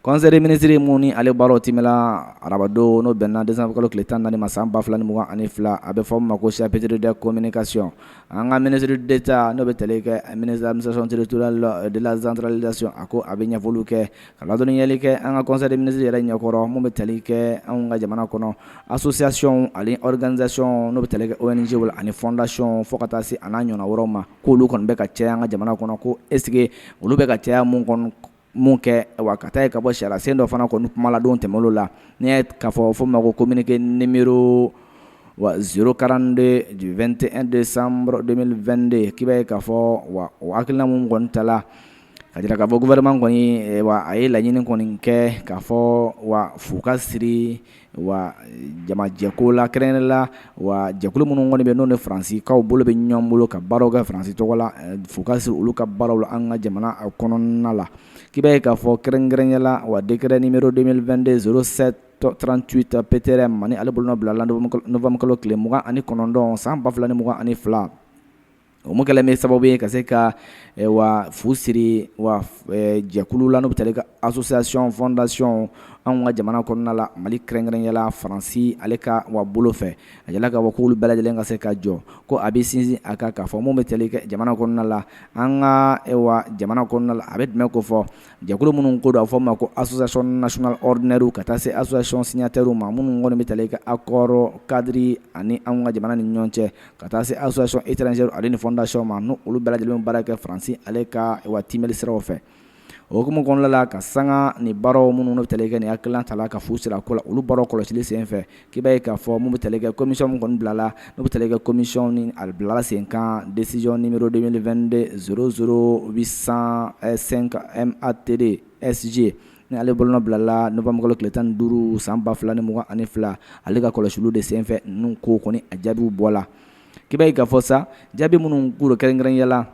Kɔnɛri minisiriri minnu ni ale baaraw te arabadon n'o bɛnna desankalolo tile tan naani ma san 2 2 2ugan ani fila a bɛ fɔ' ma ko sipteri da komini kasi an ka minisiriri de ta n'o bɛ tale kɛ minizsɔnretura la de zanteli lasiɔn a ko a bɛ ɲɛfɔli kɛ ka ladɔnniyali kɛ an ka kɔnɛri minisiriri yɛrɛ ɲɛkɔrɔ minnu bɛ tali kɛ an ka jamana kɔnɔ a sososiyasiɔn ani k2zyɔn n'o bɛ tali oynisi bolo ani fɔdasiɔn fo ka taa se an n'a ɲɔgɔn wɛrɛ ma k'olu kɔni bɛ ka cɛ an ka jamana kɔnɔ ko eseke olu bɛ ka caya minnu kɔnɔ min kɛ wa ka taa ye k'a fɔ sariya sen dɔ fana kɔni kumala don tɛmɛ olu la n'i y'a ye k'a fɔ fɔ ma ko communiqué numéro 042 du 21 décembre 2022 k'i b'a ye k'a fɔ wa o hakilina minnu kɔni tala k'a jira k'a fɔ gouvernement kɔni wa a ye laɲini kɔni kɛ k'a fɔ wa fu ka siri wa jamajɛko la kɛrɛnkɛrɛnya la wa jɛkulu minnu kɔni bɛ n'u ni faransikaw bolo bɛ ɲɔgɔn bolo ka baaraw kɛ faransi tɔgɔ la fu ka siri olu ka baaraw la an ka jamana kɔnɔna la k'i b'a ye k'a fɔ kɛrɛnkɛrɛnya la wa décret numéro 2022 0738 PT-RM ni ale bolonɔ bilala novembre kalo tile mugan ani kɔnɔntɔn san ba fila ni mugan ani fila O min kɛlen bɛ sababu ye ka se ka wa fu siri wa jɛkulu la n'o bɛ tali kɛ association fondation anw ka jamana kɔnɔna la mali kɛrɛnkɛrɛnya la faransi ale ka wa bolo fɛ a yirala k'a fɔ k'olu bɛɛ lajɛlen ka se ka jɔ ko a bɛ sinsin a kan k'a fɔ minnu bɛ tali kɛ jamana kɔnɔna la an ka jamana kɔnɔna a bɛ tɛmɛ ko fɔ jɛkulu minnu ko don a fɔ ma ko association nationale ordinaire ka taa se association signatairew ma minnu kɔni bɛ tali kɛ accord cadre ani an ka jamana ni ɲɔgɔn cɛ ka taa se azc e traz ale ni fɔdasi ma n' olu bɛɛ lajɛlen baara kɛ faransi ale ka wa tɛmɛnmeri siraw fɛ okumu kɔnɔna la ka sanga ni baaraw minnu bɛ teli kɛ nin hakiliki ta la ka fu sira ko la olu baara kɔlɔsi senfɛ k'i ba ye k'a fɔ minnu bɛ teli kɛ kɔmimi kɔni bila la n bɛ teli kɛ kɔmiyɛnw ni alila senkan desiyɔn nioro2de s s u bɛ san sen ka a teri sji ye Ni ale bolonɔ bilala Novembre kalo tile 15 san 2022 ale ka kɔlɔsiliw de senfɛ ninnu kow kɔni a jaabiw bɔla, k'i b'a ye k'a fɔ sa jaabi minnu kura kɛrɛnkɛrɛnya la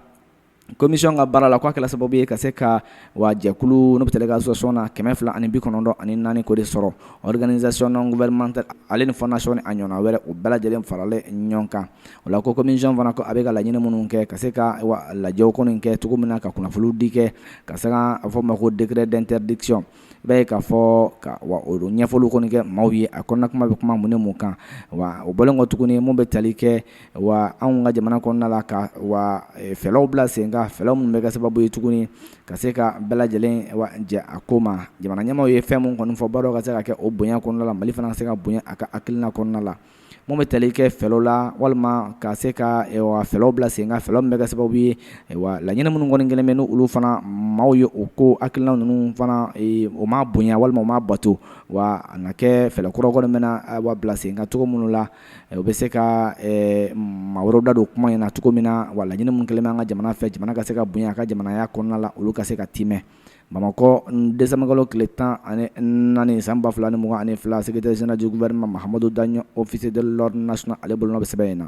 commission ka baara la k'a kɛla sababu ye ka se ka wa jɛkulu n'o bɛ tali kɛ association na 294 k'o de sɔrɔ organisation non gouvernementale ale ni fondation ni a ɲɔgɔnna wɛrɛ u bɛɛ lajɛlen faralen ɲɔgɔn kan O la ko commission fana a bɛ ka laɲini minnu kɛ ka se ka lajɛw kɔni kɛ cogo min na ka kunnafoni di kɛ ka se a fɔ ma ko décret d'interdiction i b'a ye k'a fɔ ka wa o don ɲɛfɔli kɔni kɛ maaw ye a kɔnɔna kuma bɛ kuma mun ni mun kan wa o bɔlen kɔ tuguni minnu bɛ tali kɛ wa anw ka jamana kɔnɔna la ka wa fɛlɛw bila sen kan fɛlɛw minnu bɛ kɛ sababu ye tuguni ka se ka bɛɛ lajɛlen jɛ a ko ma jamana ɲɛmaaw ye fɛn min kɔni fɔ baara ka se ka kɛ o bonya kɔnɔna la mali fana ka se ka bonya a ka hakilina kɔnɔna la minnu bɛ tali kɛ fɛɛrɛw la walima ka se ka fɛɛrɛw bila sen kan fɛɛrɛw min bɛ kɛ sababu ye wa laɲini minnu kɔni kɛlen bɛ n'olu fana maaw ye u ko hakilina ninnu fana o ma bonya walima o ma bato wa a na kɛ fɛɛrɛ kura kɔni bɛ na wa bila sen kan cogo minnu la u bɛ se ka maa wɛrɛ da don kuma in na cogo min na wa laɲini minnu kɛlen bɛ an ka jamana fɛ jamana ka se ka bonya a ka jamanaya kɔnɔna la olu ka se ka timɛ bamakɔ dɛsɛmakɔ tile tan ani naani san 2 fila ni mugan ani fila sɛtesɛnɛjɛ wɛrɛma mahamadu dan ofisi da las ale bolo bɛ sɛbɛn in na